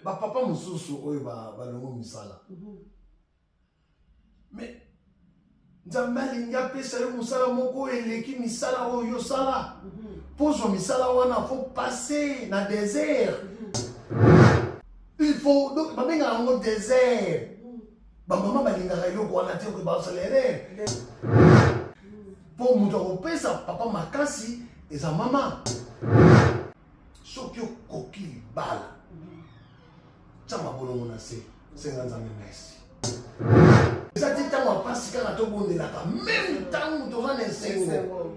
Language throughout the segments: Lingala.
bapapa mosusu oyo balongo misala mhm. me nzambe alingi apesa yo mosala moko oyo eleki misala oyo yosala mpo mhm. ozwa misala wana fo passe na desert mhm. il faut babengaka yango desert bamama balingaka eloko wana te okoki basala erreur mpo moto akopesa papa makasi eza mama soki okoki libala tya mabolongo na se senga nzambe merci eza ti ntango ya mpasi kaka tobondelaka meme ntango toza na esengo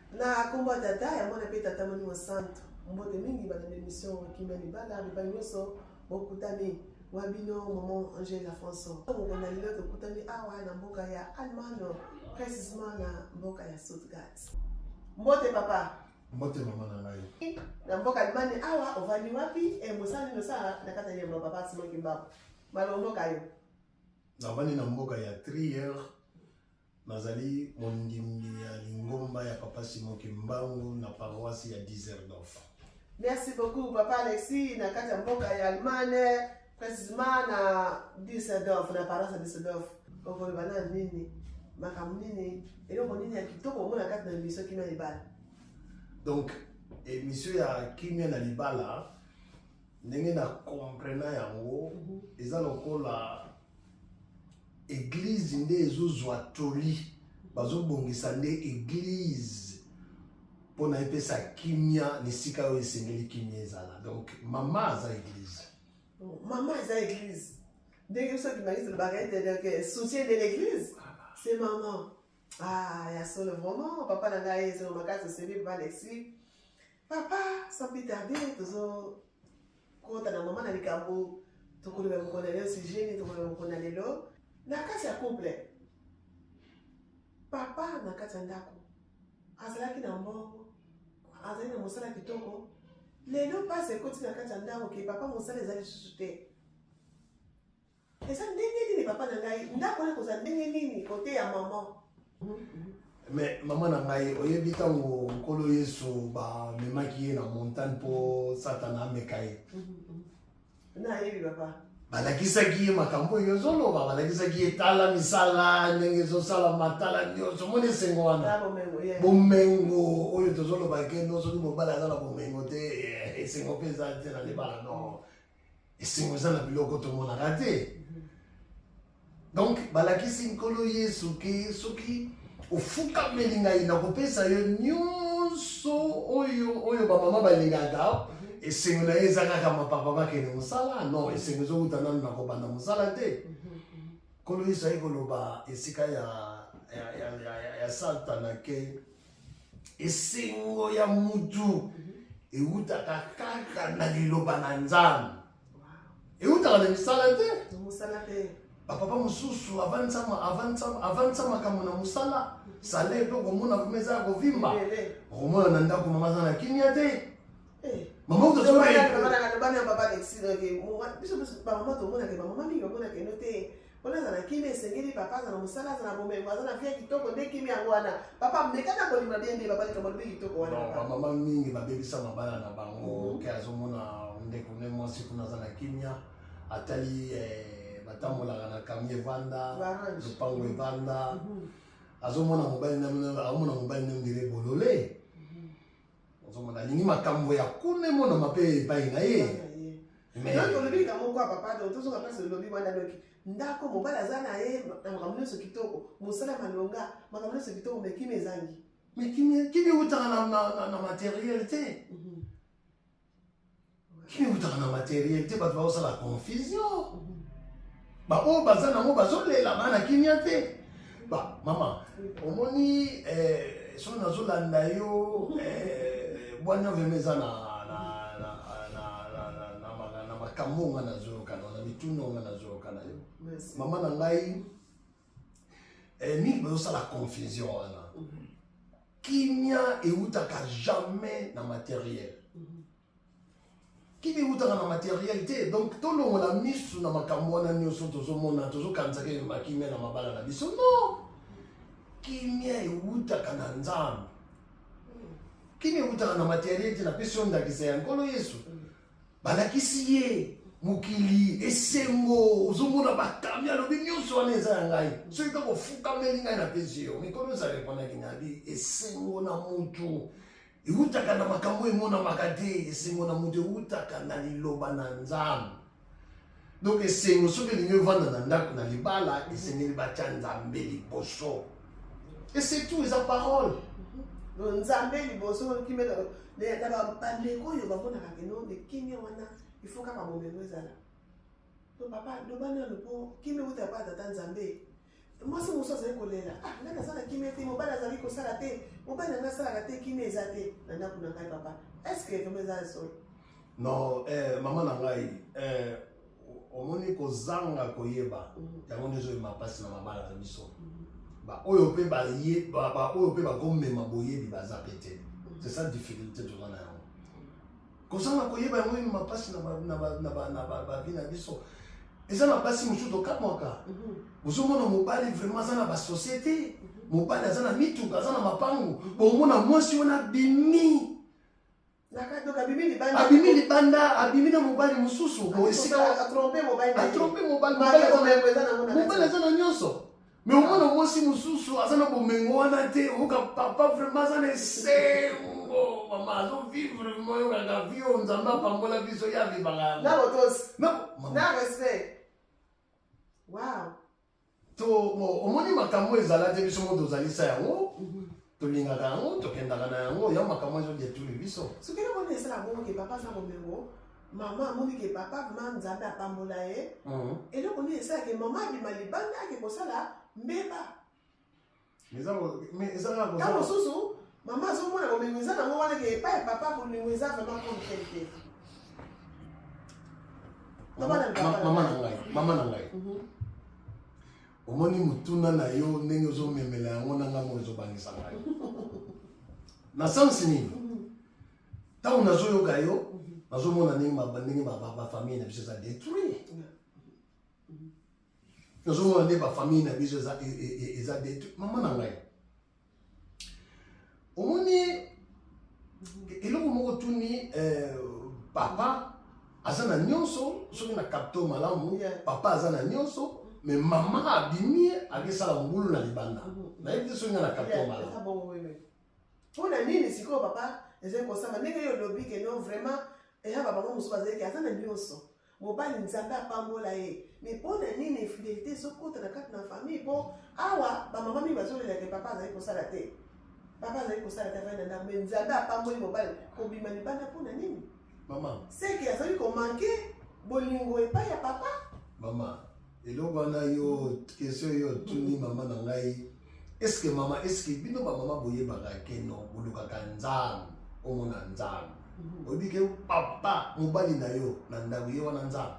Na kombo ya Tata ya Mwana mpe Tata Molimo Santu, mbote mingi bana na emission Kimia Libala, bipai nyonso bokutani wa bino maman Angela François. Moko na lelo tokutani awa na mboka ya Allemagne, precisement na mboka ya Stuttgart. Mbote papa. Mbote mama na ngai. Na mboka Allemagne awa ovandi wapi? E mosala nini osala na kati ya yambo papa Simon Kimbaku? Malomboka yo. Navandi na mboka ya Trier Nazali mondimi ya lingomba ya Papa Simon Kimbangu na paroisse ya Dizerdorf. Merci beaucoup Papa Alexis na kati ya mboka ya Allemagne precisement na Düsseldorf na paroisse ya Düsseldorf. Okoloba na nini? Makambo nini? Eloko nini ya kitoko omona kati na emission kimia libala? Donc emission ya kimia na libala ndenge na comprena yango mhm. eza lokola Eglise nde ezozwa toli, bazobongisa nde eglise mpo na epesa kimia na esika oyo esengeli kimia ezala. Donc mama aza eglise. Oh, mama aza eglise. Ndenge biso bimaki tolobaka ete donc euh, soutien de l'église, c'est maman. Ah, ya solo vraiment, papa na ngai ezolo makasi osebi papa Alexis. Papa, sans plus tarder, tozo kota na mama na likambo tokoloba mokolo na lelo sujet nini tokoloba mokolo na lelo na kati ya couple papa na kati ya ndako azalaki na mbongo azali na mosala kitoko lelo mpasi ekoti na kati ya ndako ke papa mosala eza lisusu te Eza ndenge nini papa na ngai ndako wana kozala ndenge nini kote ya maman me mama na ngai oyebi ntango nkolo yesu bamemaki ye na montagne mpo satana ameka ye nayebi papa balakisaki ye makambo oyo ezoloba balakisaki ye tala misala ndenge ezosalama tala nyonso omoni esengo wana bomengo oyo tozoloba ke no soki mobali aza na bomengo te eh, esengo mpe eza te na libala no esengo eza na biloko tomonaka te mhm. donc balakisi nkolo yesu ke soki ofukameli ngai nakopesa yo nyonso oyo oyo bamama balingaka mhm. esengo na ye eza kaka mapapa bakende mosala non mhm. esengo ezowuta nano nakobanda mosala te nkolo yesu aye koloba esika ya, ya, ya, ya, ya, ya satana ke esengo ya mutu mhm. ewutaka kaka na liloba na nzambe ewutaka na misala te bapapa mosusu avandisa makambo na mosala mhm. sala epe okomona kuma eza ya kovimba okomona na ndako mama aza na kimia te eh. mama utozobana Mpo nazala na kimia esengeli papa aza na mosala aza na bomengo aza na vie kitoko nde kimia yango wana papa meka na kolima bien nde papa likambo lobi kitoko wana Non, papa. bamama mingi babebisa mabala na bango Mhm. ke azomona ndeko ne mwasi kuna aza na kimia atali eh, batambolaka na kami evanda Barange. lopango evanda Mhm. azomona mobali na bino aomona mobali na ndire bolole Mhm. ozomona alingi makambo ya kuna emonama mpe epai na ye olobi likambo moko ya papa do tozonga place olobi wana doki ndako mobali aza na ye na makambo nyonso kitoko mosala malonga makambo nyonso kitoko me kimi ezangi me kimi eutaka na materiel te mhm. Kimi eutaka na materiel te bato baosala confusion baoyo baza nango bazolela bana kimia te ba mama omoni eh, soki nazolanda yo eh, bwanya vrema eza na makambo nga nazoyoka na mituna nga nazoyoka na yo mama na ngai eh, mingi bazosala confusion wana mhm. kimia eutaka jamais na materiel mhm. kimia eutaka na materiel te donc tolongola misu na makambo wana nyonso tozomona tozokanisaka elema kimia na mabala na biso no kimia eutaka na nzambe mhm. kimia eutaka na materiel te napesi yo ndakisa ya nkolo yesu balakisi ye mokili esengo ozomona batami alobi nyonso wana eza ya ngai soki kaka ofukameli ngai na pesi yo mikolo nyonso arepondaki nabi esengo na motu ewutaka na makambo emonamaka te esengo na motu ewutaka na liloba na nzambe donc esengo soki elingi ovanda na ndako na libala esengeli batya nzambe liboso esetout eza parole nzambe liboso kimela na bandeko oyo bamonaka kino nde kimia wana ifo kaka bomengo ezala to papa loba nano mpo kimia uta epai tata nzambe mwasi mosusu azali kolela ah, ngai naza na kimia te mobali azali kosala te mobali nanga asalaka te kimia eza te na ndako na ngai papa estce vraimen eza nsolo non eh, mama na ngai eh, omoni kozanga koyeba mhm. yango nde ezoyema mpasi na mabala na biso mhm. baoyo mpe baoyo mpe bakomema boyebi baza mpe te mhm. c'est ça difficulté toza na yango kozanga koyeba yango ino mapasi na bavi na biso eza na basi mosusu tokamwaka mhm. ozomona mobali vraiment aza na basosiete mhm. mobali aza na mituka aza na mapango mhm. bomona mwasi wana abimi abimi libanda abimi na mobali mosusu atrompe mobali mobali aza na nyonso me omona mwasi mosusu aza na bomengo wana te oyoka papa vraimen aza na esengo mama azovivre vraimen oyokaka vio nzambe apambola biso ye avivaka na botosi na respect wow to omoni makambo ezala te biso mo tozalisa yango mhm. tolingaka yango tokendaka na yango ya makambo ezo detruire biso soki na moni esala bongo ke papa aza bomengo mama amoni ke papa vraimen nzambe apambola ye mhm. eloko nini esala ke mama abima libanda ake kosala mbeba ta mosusu mama azomona bomengo eza nango wana ke epai ya papa bomengo eza vraimen kontel te mama na ngai mama na ngai mhm. omoni motuna na yo ndenge ozomemela yango na ngambo ezobangisa ngai na sense nini ntango nazoyoka yo nazomona ndenge ndenge bafamille na biso eza détruit nazomona nde bafamille na biso eza e, e, e, détruit mama na ngai omoni eloko moko tuni eh, papa aza na nyonso soki na kapto malamu papa aza na nyonso me mama abimi akesala mbulu na libanda mm-hmm. nayebi te soki nga na kapto malamu mpo na nini sikoyo papa ezali kosama ndenge yo olobi keno vraiment eya babango mosusu bazalaki aza na nyonso mobali nzambe apambola ye mais mpo na nini infidelité ezokota na kati na famille mpo awa bamama mingi bazolela te papa azali kosala te papa azali kosala te avai na ndako mais nzambe apamboli mobali kobima libanda mpo na nini mama seke azali komanke bolingo epai ya papa mama eloko wana yo question yo otuni mama na ngai eske mama eske bino bamama boyebaka ke no bolukaka nzambe omona nzambe mhm. oyebi ke papa mobali na yo na ndako ye wana nzambe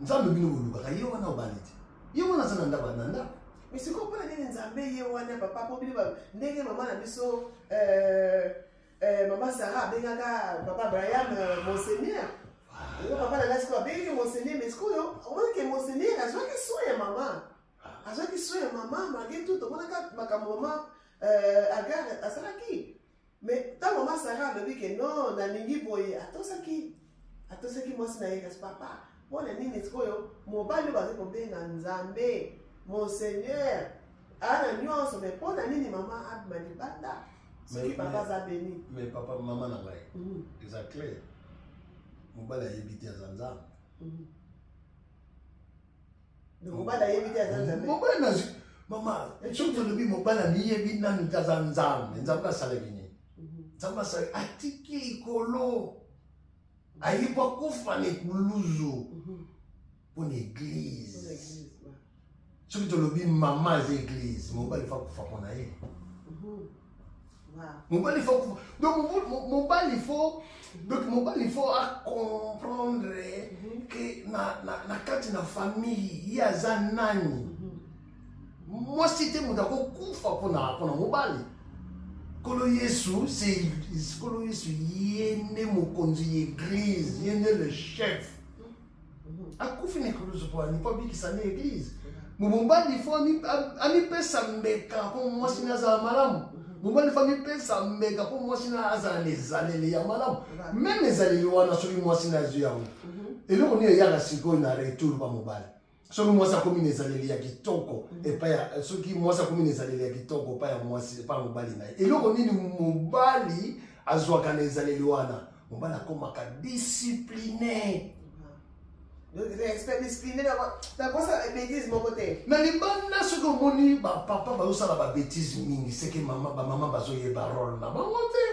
nzambe bino bolukaka ye wana obali te ye wana aza na ndako na ndako misiko mpona nini nzambe ye wana papa po bino ndenge mama na biso euh, Eh, mama Sarah abengaka papa Brian euh, monseigneur. Yo papa na ngai sikoyo abengi monseigneur mais sikoyo omoni ke monseigneur azwaki soin ya mama. Azwaki soin ya mama malgré tout omonaka makambo mama euh, Agar asalaki. Mais ntango mama Sarah alobi ke non nalingi boye atosaki. atosaki mwasi na ye kasi papa mpo na nini sikoyo mobali oyo bazali kobenga nzambe monseigneur aa na nyonso mai mpo na nini mama abima libanda soki papa aza beni mais papa mama na ngai mhm. eza clair mobali ayebi te aza nzambe mhm. mobali ayebi te aza nzambe mobali na mama soki tolobi mobali amiyebi nanu te aza nzambe nzambe asalaki nini mhm. nzambe asalaki atiki likolo ayeba kufa na ekuluzu mhm. mpo na eglize soki tolobi mama aza eglize mobali fa kufa mpo na ye mhm. mobali fo kufa donc mobali fo donc mobali fo acomprendre mhm. ke na, na, na kati na famille ye aza nani mhm. mwasi te moto akokufa mpona mpona mobali nkolo yesu nkolo yesu ye nde mokonzi ya eglise ye nde le chef akufi na ekulusu po alingi abikisa nde eglise mobali fo amipesa mbeka po mwasi na azala malamu mobali fo amipesa mbeka po mwasi na azala na ezaleli ya malamu meme ezaleli wana soki mwasi na azwi yango eloko nini eyaka sikoyo na retour pa mobali soki mwasi akomi na ezaleli ya kitoko epai ya soki mwasi akomi na ezaleli ya kitoko epai ya mwasi epai ya mobali na ye eloko nini mobali azwaka na ezaleli wana mobali akomaka discipline na libanda soki omoni bapapa bazosala babetise mingi seke mama bamama bazoyeba role na bango te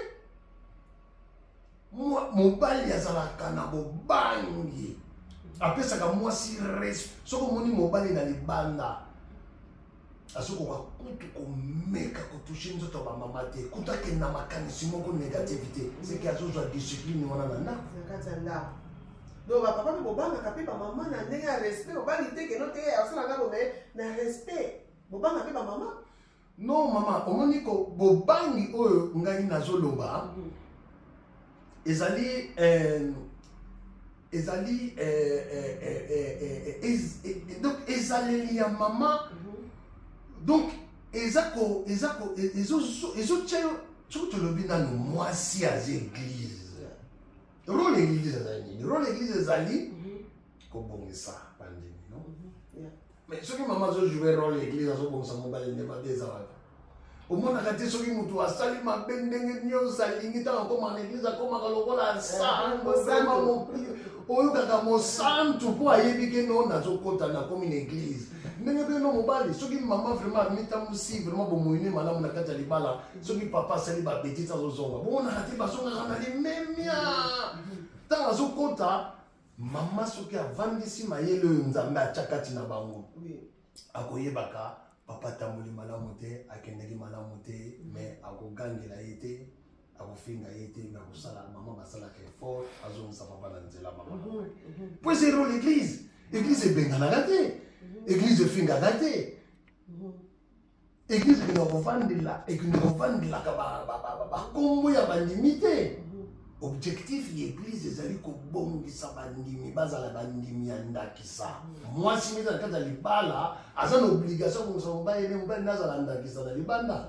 mobali azalaka na bobangi apesaka mwasi res soki omoni mobali na libanda azokoka kutu komeka kotushe nzoto ya bamama te kutu akende na makanisi moko negative te seke azozwa discipline wana na ndako na kati ya ndako donc bapapa mpe bobangaka mpe bamama na ndenge ya respect obangi te keno te asala nga boye na respect bobanga mpe bamama non mama omoni ko bobangi oyo ngai nazoloba mm. ezali euh, ezali euh, euh, donc ezaleli ya mama mhm. donc eza ko eza ko ezotya yo soki tolobi nano mwasi aza eglize role eglize ezali nini role eglize ezali mhm. kobongisa bandimi no mhm. Mais soki mama azo jouer role ya eglise azo bongisa mobali nde mabe eza wapi omonaka te soki motu asali mabe ndenge nyonso alingi ntango akoma na eglise akomaka lokola eh, sangoema mokili oyokaka mosantu mpo ayebi ke no nazokota nakomi na eglise ndenge mpe no mobali soki mama vraiment amitambusi vraiment bomoyi ne malamu na kati ya libala soki papa asali babetise azozonga bomonaka te bazongaka na limemia ntango azokota mama soki avandisi mayele oyo nzambe atya kati na bango akoyebaka papa atamboli malamu te akendaki malamu te me akogangela ye te akofinga ye te me akosala mama basalaka effort azongisa papa na nzela mama mhm, mhm. po ezero l'église église ebenganaka te mhm. église efingaka te eglise ekende kovandela ekende kovandelaka bankombo ya bandimi te objectif ya eglise ezali kobongisa bandimi bazala bandimi ya ndakisa mwasi mita na kati ya libala aza na obligation kobongisa mobali ne mobali nde azala ndakisa na libanda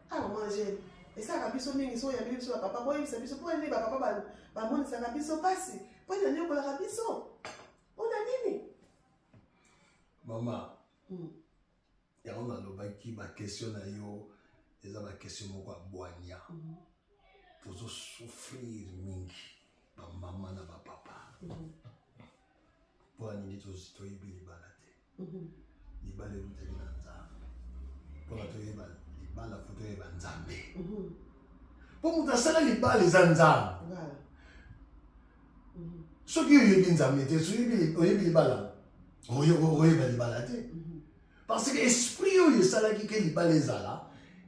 Ah, maman Angèle, esalaka biso mingi soki oyambi biso bapapa boyebisa biso mpo nini bapapa bamonisaka biso mpasi mpo nini aniokolaka biso mpo na nini mama hmm. yango nalobaki bakestio na yo eza bakestio moko ya bwanya hmm. tozosouffrir mingi bamama na bapapa hmm. mpo na nini toyebi libala libala eutaki na nzambe mpona toyeba libala fo toyeba nzambe mpo moto asala libala eza nzambe soki oyebi nzambe te soki oyebi libala oyeba libala te mhm. parce que esprit oyo esalaki ke libala ezala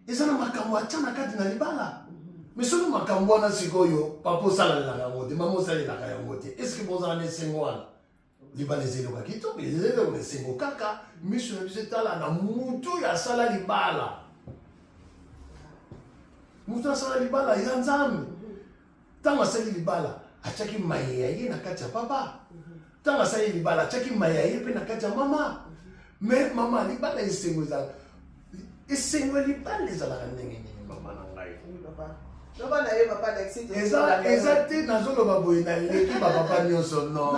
eza na makambo atya na kati na libala mhm. mais soki makambo wana sikoyo papa osalalelaka yango te mama osalelaka yango te estce bozala na esengo wana libala eza eloko ya kitoko eza eloko ya esengo kaka miso na biso etala na mutu oyo asala libala mutu asala libala ya nzambe ntango asali libala atyaki maye ya ye na kati ya papa ntango asali libala atyaki maye ya ye mpe na kati ya mama me mama libala esengo ezala esengo ya libala ezalaka ndenge nini mama na ngai eza te nazoloba boye naleki bapapa nyonso nooyo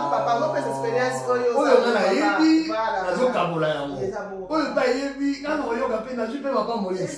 nga nayebi nazokabola yango oyo mpe ayebi nga nakoyoka mpe nazwi mpe papa moyesi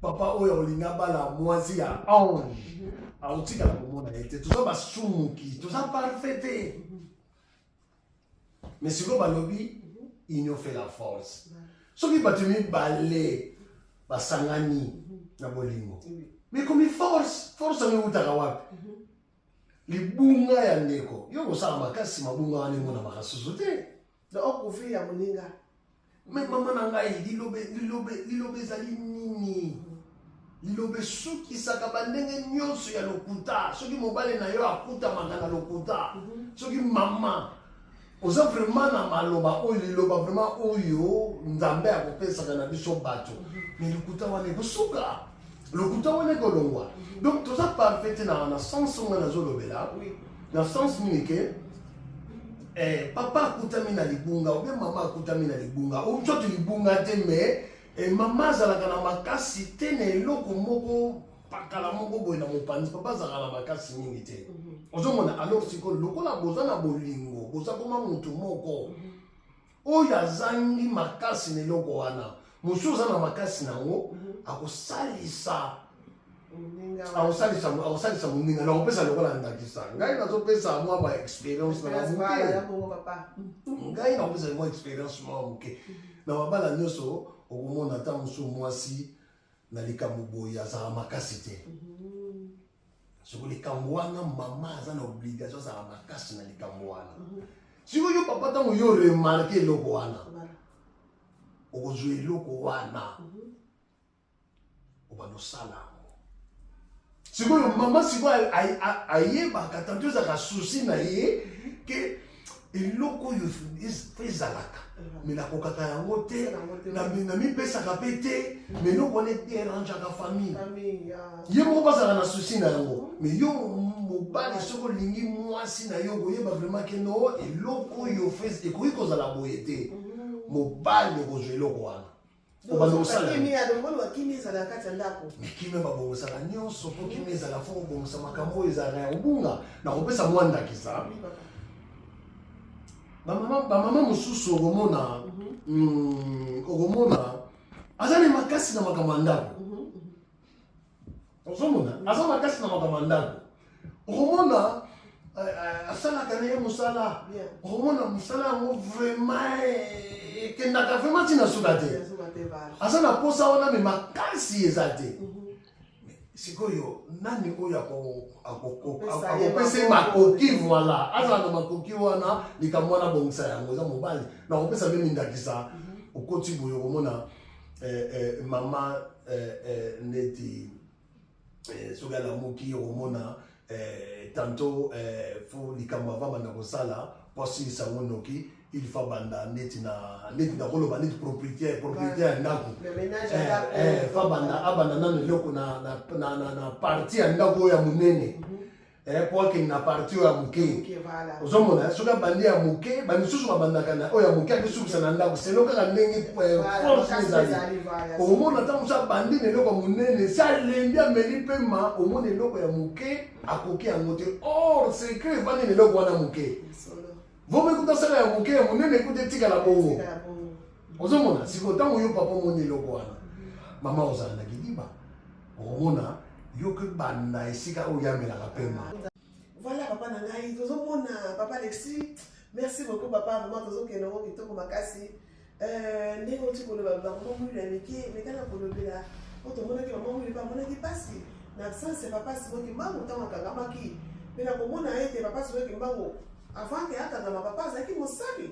papa oyo olinga bala mwasi ya ange mhm. aotikala komona ye te toza basumuki toza parfait te mhm. mais sikoyo balobi mhm. union fait la force soki bato mibale basangani na bolingo mikomi force force yango eutaka wapi libunga ya ndeko yo kosala makasi mabunga wana emonamaka susu te Donc on couvrir ya moninga. Mais maman na ngai lilobe lilobe lilobe ezali nini? liloba esukisaka bandenge nyonso ya lokuta soki mobali na yo akutamaka na lokuta mhm. soki mama oza vraiment na maloba oyo liloba vraiment oyo nzambe akopesaka na biso bato mhm. me lokuta wana ekosuka lokuta wana ekolongwa donc toza parfait te na sens oyo ngai nazolobela na sens nini ke eh, papa akutami na libunga obe mama akutami na libunga ocote libunga te mais eh, mama azalaka na makasi te na eloko moko pakala moko boye na mopanzi papa azalaka na makasi mingi te mhm. ozomona alors sikoyo lokola boza na bolingo boza koma motu moko mhm. oyo azangi makasi na eloko wana mosusu oza na makasi na yango mhm. akosalisa akosalisa moninga na kopesa lokola ndakisa ngai nazopesa mwa ba experience na moke ngai nakopesa mwa experience mwa moke mhm. na mabala nyonso okomona ata mosusu mwasi na likambo boye azala makasi te mhm. soko likambo wana mama aza na obligation azala makasi na likambo wana mhm. siko yo papa ntango yo remarke eloko wana okozwa eloko wana mhm. obanda osala yango sikoyo mama sikoyo ayebaka tanto ezalaka susi na ye mhm. ke eloko oyo ezalaka me nakokaka yango te namipesaka mpe te me eloko wana ederangeaka famille ye moko bazala na susi na yango me yo mobali soki olingi mwasi na yo okoyeba vraiment ke no eloko oyo ekoki kozala boye te mobali okozwa eloko wana obanda kosala nini alongoli wa kimia ezala kati ya ndako me kimia babongosaka nyonso mpo kimia ezala fo kobongisa makambo oyo ezalaka ya kobunga na kopesa mwa ndakisa bamama mosusu okomona mhm. mm, okomona aza na makasi na makambo ya ndako ozomona aza makasi na makambo ya ndako okomona eh, eh, asalaka na ye mosala okomona mosala yango vraiment eh, ekendaka vraiment ntina suka te aza na mposa wana me makasi eza te mhm. sikoyo nani oyo akopesa ye makoki voila azala na makoki wana likambo wana bongisa yango eza mobali nakopesa mpe mindakisa mhm. okoti boye okomona eh, eh, mama eh, eh, neti eh, soki alamuki okomona eh, tanto eh, fo likambo avamanda kosala mpo asilisa ngo noki il faut banda neti na neti na koloba neti propriétaire propriétaire ya ndako fa banda abanda nano eloko na, na, na, na, na parti ya ndako oyo ya monene mm -hmm. eh, po akende na parti oyo ya moke ozomona soki abandi ya moke bamisusu babandaka na oyo ya moke akesukisa na ndako selo kaka ndenge eh, force ezali omona ntango mosusu abandi na eloko ya monene si alendi ameli mpema omona eloko ya moke akoki yango te or secret efandi na eloko wana moke Voma ekuta sala ya moke ya monene ekuta etikala bongo. Ozomona sikoyo ntango yo papa omoni eloko wana mama ozala na kidiba okomona yo mpe banda esika oyo yamelaka mpema. Voilà papa na ngai tozomona papa Alexis merci beaucoup papa vraiment tozokende yango kitoko makasi. Euh, ndenge oti koloba bakoma mwili ya mike mekana kolobela po tomonaki mama mwili mpe amonaki mpasi na absence ya papa simo kimbangu ntango akangamaki mpe na komona ete papa simo kimbangu avant ke akangama papa azalaki mosali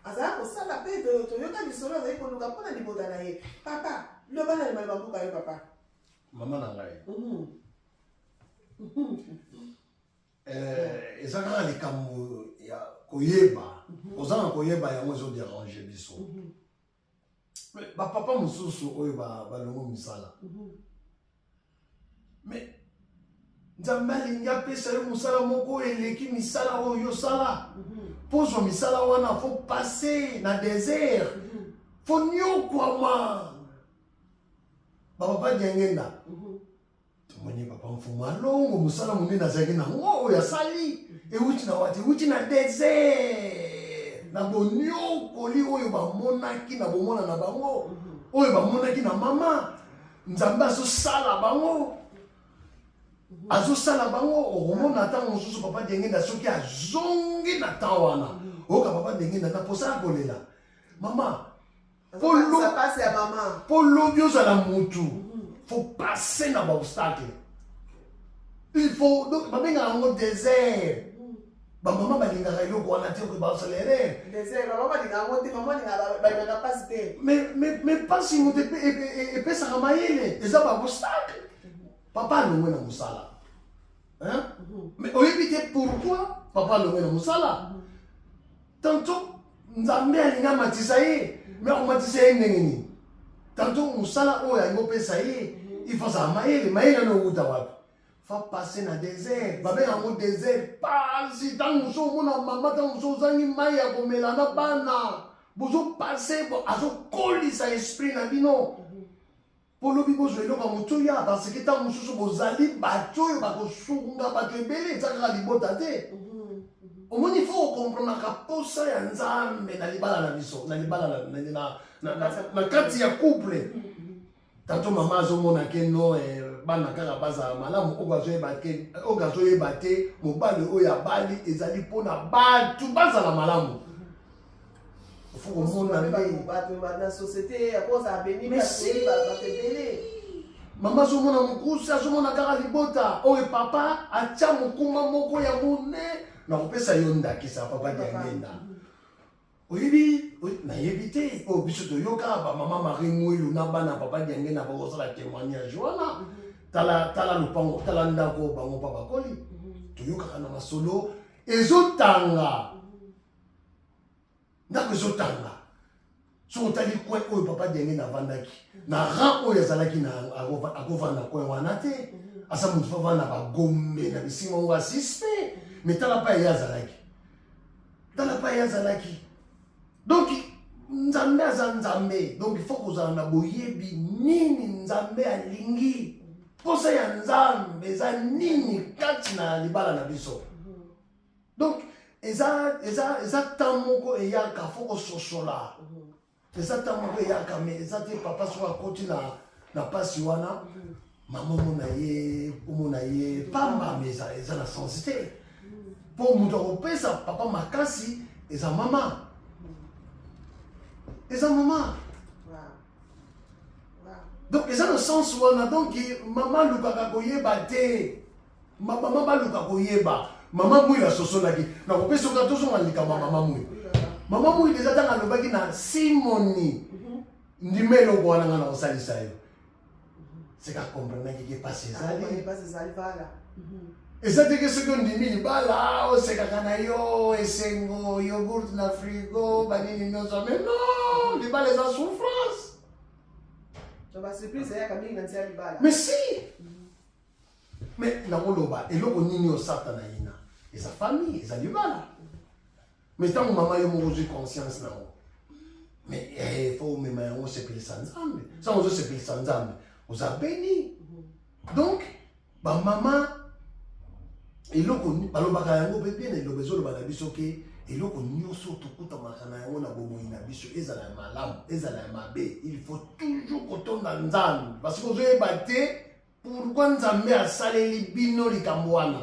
azalaki kosala mpe toyoka lisolo azalaki koluka mpo na libota na ye papa loba na limali babuka yo papa mama na ngai mhm. Eh, eza kaka likambo ya koyeba mhm. oza na koyeba yango ezoderange biso mhm. bapapa mosusu oyo balongo misala mhm. me nzambe alingi apesa yo mosala moko oyo eleki misala oyo yosala mpo ozwa misala wana fo passe na desert fo niokwama bapapa diangenda tomoni papa mfumu alongo mosala monene azalaki na ngo oyo asali euti na wati euti na desert na boniokoli oyo bamonaki na bomona na bango oyo bamonaki na mama nzambe azosala bango azosala bango okomona ntango mosusu papa dengenda soki azongi na temps wana oyoka papa dengenda na mposa ya kolela mama mpo lobi ozala mutu mhm. faut passe na baobstacle il faut babengaka yango désert mhm. bamama balingaka eloko wana te oke baosala erreur mais mpasi moto epesaka mayele eza baobstacle mhm. papa alongwe na mosala mais oyebi te pourquoi papa alongwe na mosala tanto nzambe alingi amatisa ye me akomatisa ye ndenge nini tanto mosala oyo alingi opesa ye ifo azala mayele mayele ana owuta wapi fa passe na desert babenga yango desert pasi ntango mosusu omona mama ntango mosusu ozangi mai ya komela na bana bozopase azokolisa esprit na bino Mpo lobi bozwa eloko ya moto ya parce que ntango mosusu bozali bato oyo bakosunga bato ebele eza kaka libota te omoni fo okomprenaka mposa ya nzambe na libala na biso na libala na kati ya couple tato mama azomona ke no eh, bana kaka bazala malamu oyo azoyeba te mobali oyo abali ezali mpo na bato bazala malamu faut komona nde bato na société ya kozala beni bato ebele mama azomona mokusa azomona kaka libota oyo papa atya mokuma moko ya mone na kopesa yo ndakisa papa diangenda oyebi nayebi te oyo biso toyoka bamama marie ngwelu na bana papa diangenda bakosala témoignage wana mhm. tala tala lopango tala ndako bango mpa bakoli mhm. toyokaka na masolo ezotanga mhm. ndako ezotanga soki otali coin oyo papa denge navandaki na rang oyo azalaki akovanda coin wana te aza motu fo avanda bagombe na bisinga ngo asispe me tala pa eye azalaki tala pa eye azalaki donc nzambe aza nzambe donc ifo kozala na boyebi nini nzambe alingi mposa ya nzambe eza nini kati na libala na biso donc eza eza eza temps moko eyaka fo kososola mhm. eza ntango moko eyaka me eza te papa soki akoti na na mpasi wana mhm. mama omona ye omona ye pamba me eza eza na sensi te mpo mhm. moto akopesa papa makasi eza mama mhm. eza mama donc eza na sense wana donc mama alukaka koyeba te Ma mama baluka koyeba mama mui asosolaki nakopesa oka tozonga likambo ya mama mui mama mui deja ntango alobaki na simoni ndima eloko wana ngai nakosalisa yo seka komprenaki ke mpasi ezali eza teke soki ondimi libala osekaka na yo esengo yogurt na frigo banini nyonso ame no libala eza souffrance mais si Mais nakoloba eloko nini oyo satana yina eza famille eza libala mais ntango mama yo moko ozwi conscience na yango mais eh, fo omema yango osepelisa nzambe ntango ozosepelisa nzambe oza beni donc bamama eloko balobaka yango mpe mpe na eloba ezoloba na biso ke eloko nyonso tokutamaka na yango na bomoi na biso ezala ya malamu ezala ya mabe il faut toujours kotonda nzambe parce que ozoyeba te Pourquoi Nzambe asaleli bino likambo wana?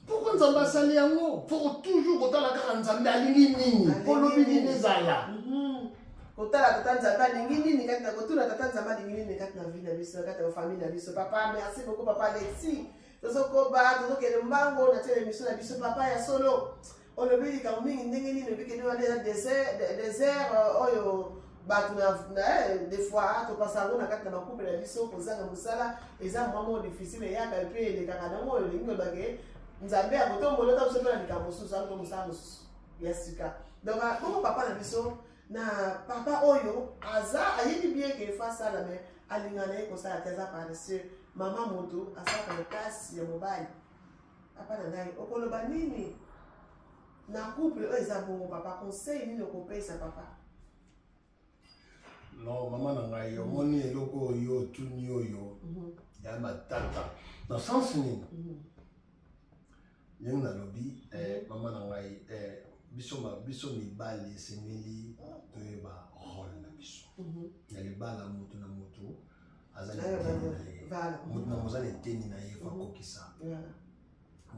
Pourquoi Nzambe asali yango? Faut toujours kotala kaka Nzambe alingi nini? Olobi nini ezala? Mhm. kotala tata nzambe alingi nini kati na kotuna tata nzambe alingi nini kati na vie na biso kati na famille na biso papa merci beaucoup papa alexi tozokoba tozokende mbango na tina emission na biso papa ya solo olobi likambo mingi ndenge nini oyebi kende wana eza desert euh, oyo bato eh, des fois topasa yango na kati na bakupe na biso kozanga mosala eza mwa moko difficile eyaka mpe elekaka nango oyo olingi olobake nzambe ya kotombola ota biso mpe na likambo mosusu yango mosala mosusu ya sika donc ah, bongo papa na biso na papa oyo aza ayebi bien ke efa asala me alinga na ye kosala te aza paresseux mama moto asalaka makasi ya mobali papa na ngai okoloba nini na couple oyo eza bongo papa conseil nini okopesa papa no mama na ngai omoni eloko oyo otuni oyo mhm. ya matata na sens nini mhm. ndenge nalobi eh, mhm. mama na ngai eh, biso biso mibali esengeli toyeba role na biso na libala moto na moto azali moza na eteni na ye fakokisa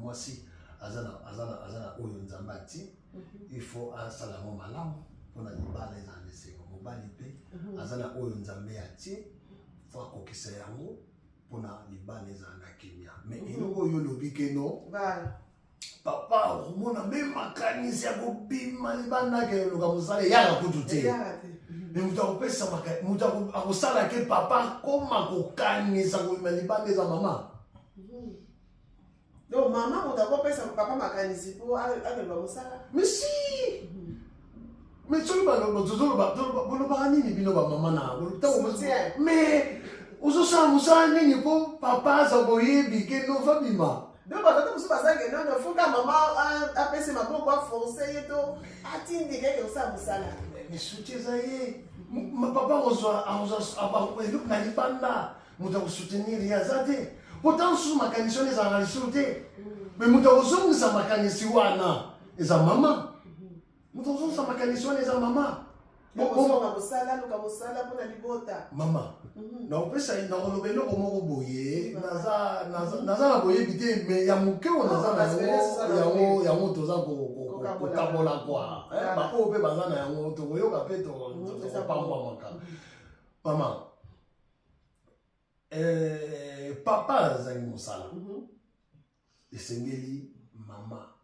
mwasi aza na oyo nzambe ati mhm. il faut asala yango malamu mpona libala ezala na esengo mobali mpe mhm. aza na oyo nzambe atie fo akokisa yango mpona libala ezala na kimia mai mhm. eloko oyo olobi keno papa okomona mpe makanisi ya kobima libanda ke eloka mosala eyaka kutu te me moto akopesa moto akosala ke papa akoma kokanisa kobima libanda eza mama hmm. donc mama moto akopesa papa makanisi mpo alemba mosala misi mais soki bolobaka nini bino bamama na mais ozosala mosala nini mpo papa aza boyebi ke nova bima donc batata mosusu bazange nono fuka mama apesi maboko aforce ye to atindi keke osala mosala misuti eza ye papa akozwa eloko na libanda moto ya kosoutenir ye aza te po ntango susu makanisi wana ezalaka lisusu te me moto ya kozongisa makanisi wana eza mama moto ya kozongisa makanisi wana eza mama mama mhm. nakopesa nakoloba eloko moko boye naza na boyebi te me ya moke oyo naza na yango yango toza kokabola kwa eh, baoyo mpe baza na yango tokoyoka mpe mhm, tokopambwamaka mama eh, papa azangi mosala mm -hmm. esengeli mama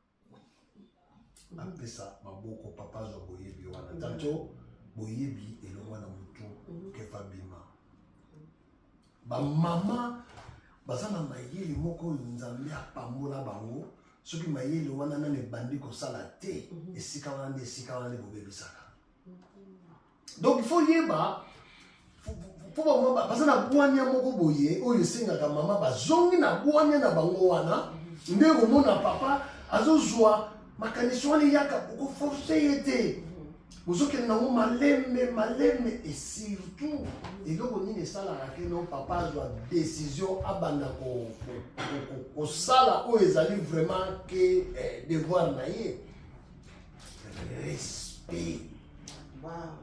apesa maboko papa azwa boyebi wana mhm. tanto boyebi elongwa na motu mhm. kefa bima bamama baza na mayele moko oyo nzambe apambola bango soki mayele wana nani ebandi kosala te mhm. esika wana nde esika wana nde bobebisaka donc il faut yeba mpo bango baza na bwania moko boye oyo esengaka mama bazongi na bwania na bango wana nde komona papa azozwa makanisi wana eyaka okoforce ye te bozokende nango malembe malembe e surtout eloko nini esalaka ke no papa azwa décision abanda kosala oyo ezali vraiment ke eh, devoir na ye respect wow.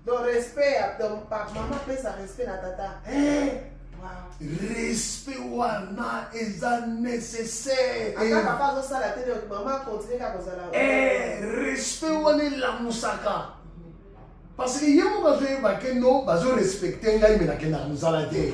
donc respect ya donc pa mama apesa respect na tata eh. wow. respect wana eza nécessaire ata papa azosala te donc mama continue kaka kozala eh, respect wana elamusaka parce que ye moko azoyeba ke no bazorespecte ngai me nakendaka mosala te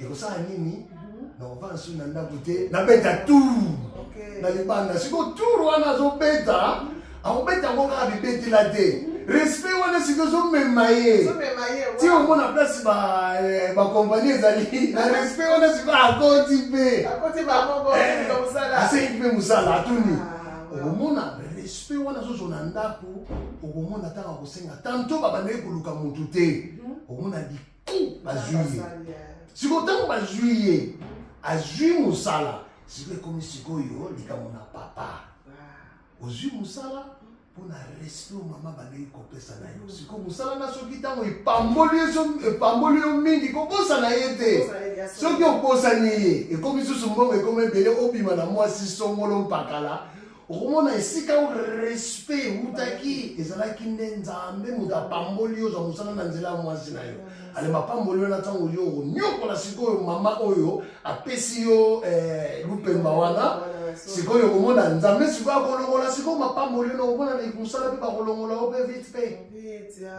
ekosala nini mhm. nakovanda soki na ndako te nabeta tour na libanda siko tour wana azobeta mhm. akobeta yango kaka bibetela te mhm. respect wana siko ozomema ye ti omona place bakompani eh, ezali na respect wana siko akoti mpe eh, asengi mpe mosala atuni ah, okomona respect wana azozwa na ndako okomona ntango akosenga tanto babandaki koluka motu te okomona bazwi ye sikoyo ntango bazwi ye azwi mosala sikoyo ekomi sikoyo likambo na papa ah. ozwi mosala mpo na respect oyo mama bandeki kopesa na yo sikoyo mosala na soki ntango epamboli yo mingi kobosana ye te soki obosani ye ekomi susu mbongo ekomi ebele obima na mwasi songolo mpakala okomona esika o respect ewutaki ezalaki nde nzambe moto apamboli yo ozwa mosala na nzela ya mwasi na yo ale mapamboli wana ntango yo okonyokola sikoyo mama oyo apesi yo eh, lupemba wana sikoyo okomona nzambe sikoyo akolongola sikoyo mapamboli wana okomona na mosala mpe bakolongola yo mpe vite mpe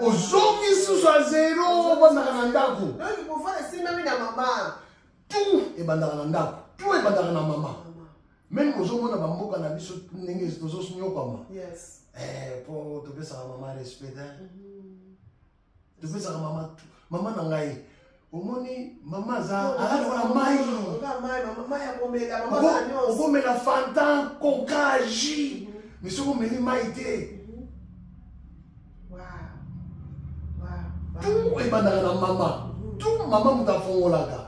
ozongi susu ya zero obandaka na ndako tout ebandaka na ndako tout ebandaka na mama meme ozomona bamboka na biso ndenge tozonyokwama eh, po topesaka mama respect mhm. topesaka mama mama na ngai omoni mama aza alali wana mai okomela fanta koka ji mhm. misoko omeli mai te tu ebandaka na mama tu mama moto afongolaka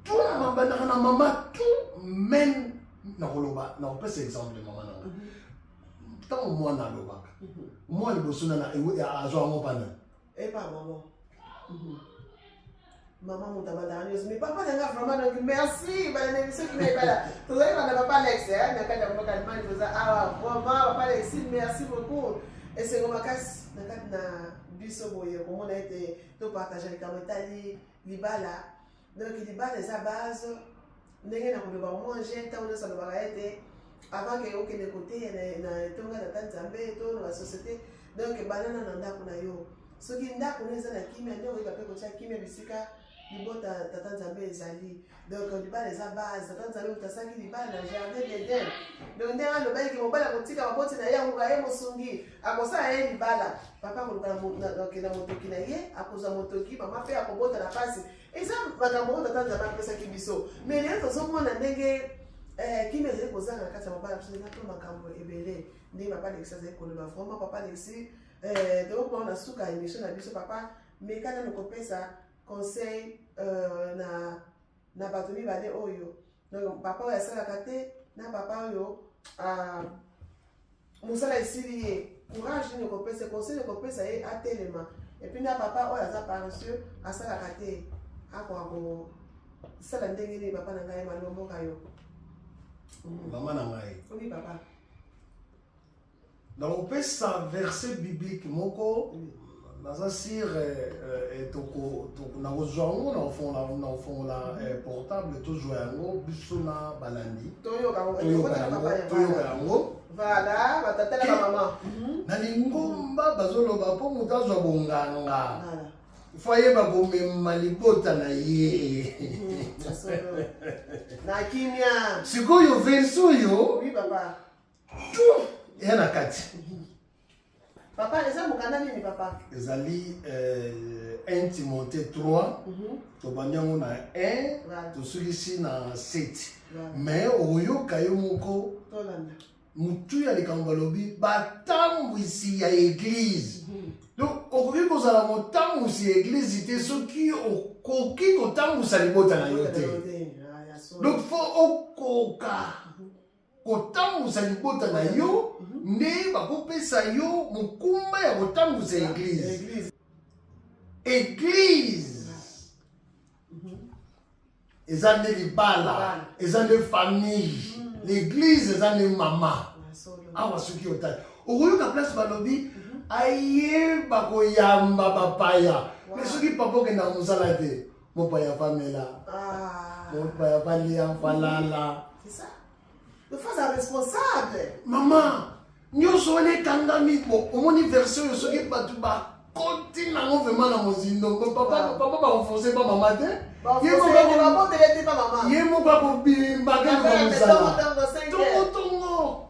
tu ebandaka na mama tu meme nakoloba nakopesa exemple mama na ngai ntango mwana alobaka mwana liboso na azwa yango pana epa eh, mama mhm. mama moto abandaka nyonso mais papa na nga vraiment donc merci bana na émission kina ebala tozali bana papa alex eh, na kati ya mboka allemagne toza awa ah, vraiment papa alexi merci beaucoup esengo makasi na kati na biso boye komona ete topartage likambo etali libala donc libala eza base ndenge na koloba omonge ntango nyonso alobaka ete avant ke okende koteya na etonga tata nzambe to na basociété donc banana na ndako na yo soki ndako no eza na kimia nde okoyeba mpe kotya kimia bisika libota tata nzambe ezali donc libala eza base tata nzambe moto asalaki libala na jardin d'eden donc ndenge alobaki ke mobali akotika baboti na ye akoka ye mosungi akosala ye libala papa akoluka na motoki na ye akozwa motoki mama mpe akobota na mpasi eza makambo oyo tata nzambe apesaki biso mai lelo tozomona ndenge eh, kimi ezali kozanga na kati ya mabala biso eza mpe makambo ebele ndenge papa alexi azali koloba vraiment papa alexi eh, tokomona na suka ya émission na biso papa meka nano kopesa conseil euh, na na bato mibale oyo donc papa oyo asalaka te na papa oyo ah, mosala esili ye courage nini ekopesa conseil ekopesa ye atelema epuis na papa oyo aza paresseux asalaka te akoka kosala ndenge nini papa na ngai malomboka yo mama na ngai obi papa nakopesa verset biblique moko naza sur eh, eh, eh, nakozwa yango nakofongola portable tozwa yango biso na balandi toyoka yango mhm. na lingomba bazoloba mpo moto azwa bonganga fo ayeba komema libota na ye mhm, na kimia sikoyo verse oyo eya na kati papa eza mokanda nini papa ezali euh, 1 timote 3 mhm. tobandi yango na 1 tosukisi na 7 me okoyoka yo moko motu ya likambo balobi batambwisi ya eglize mhm. donc okoki kozala motambwisi ya eglize te soki okoki kotambwisa libota na yo te donc fo okoka kotambusa libota na yo mhm. nde bakopesa yo mokumba ya kotambusa eglize eglize mhm. eza nde libala eza nde famille mhm. l'église eza nde mama awa soki otali okoyoka place balobi aye bakoyamba bapaya me soki papa okendaka mosala te Mopaya Pamela. Ah. Mopaya Palia Palala. C'est ça. Le face à responsable. Maman, nyonso wana ekangami bo omoni version oyo soki bato bakoti nango vraimen na mozindo papa bakoforce pa mama te ye moko akobimba kaka kozala tongotongo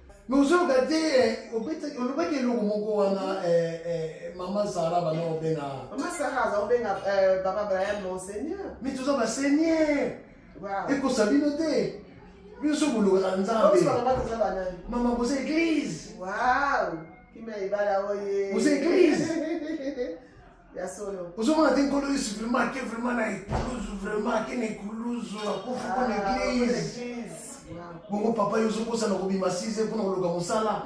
Mais ozoyoka te eh, obetaki olobaki eloko moko wana eh, eh, mama sara bana obenga mama sara aza obenga baba brian monseigneur mi toza baseigneur ekosa bino te bino so bolokaka nzambe mama boza eglise boza eglise Ya solo. Ozomona te nkolo Yesu vraiment ake vraiment na ekuluzu vraiment ake na ekuluzu akufi mpo na ah, eglise. Bongo papa yo ozokosa na kobima 6 mpo na koluka mosala.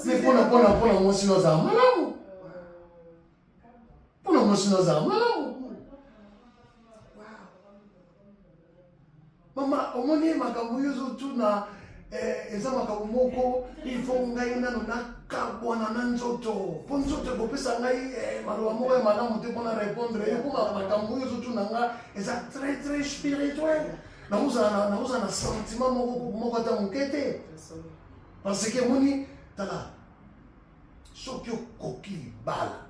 Mais mpo na mpo na mpo na mwasi no azala malamu. Mpo na mwasi no azala malamu. mama omoni makambo oyo ozotuna eh, eza makambo moko ifo ngai nano nakabwana na nzoto mpo nzoto ekopesa ngai eh, maloba moko ya malamu te mpo na répondre yo mpo makambo oyo ozotuna nga eza très très spirituel nakozala nakozala na sentiment moko moko ata moke te parce que moni tala soki okoki libala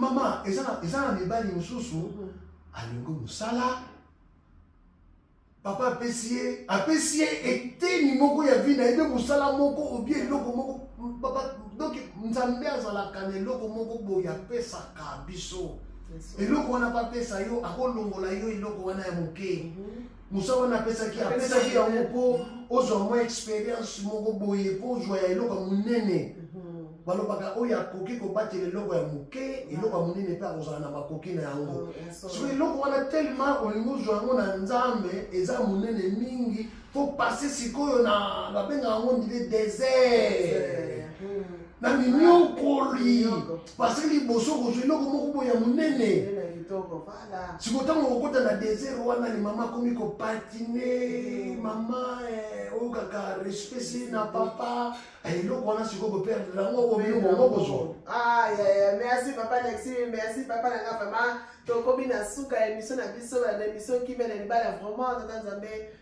mama eza na mibali mosusu mhm. alingi mosala papa apesi ye apesi ye eteni moko ya vi na ye mpe mosala moko obie eloko moko donc nzambe azalaka na eloko moko boye apesaka biso eloko wana bapesa yo akolongola yo eloko wana ya moke mhm. mosala wana apesaki apesaki yango mpo ozwa mwa experience moko boye mpo ozwa ya eloko ya monene mhm. balobaka oyo akoki kobatela eloko ya moke eloko ya monene mpe akozala na makoki na yango oh, so eloko wana telema olingi ozwa yango na nzambe eza monene mingi mpo pase sikoyo na babenga yango ndile desert hmm. na minyokoli parce que liboso okozwa eloko moko boye ya monene siko ntango okokota na desert wana ni mama akomi kopatine mm. mama eh, oyo kaka respecte na papa eh, eloko wana sikoyo boperdre yango obino bongo kozwa ah, merci papa nexi merci papa na nga vraiment tokomi na suka ya emission na biso na emission kimia na libala vraiment tata nzambe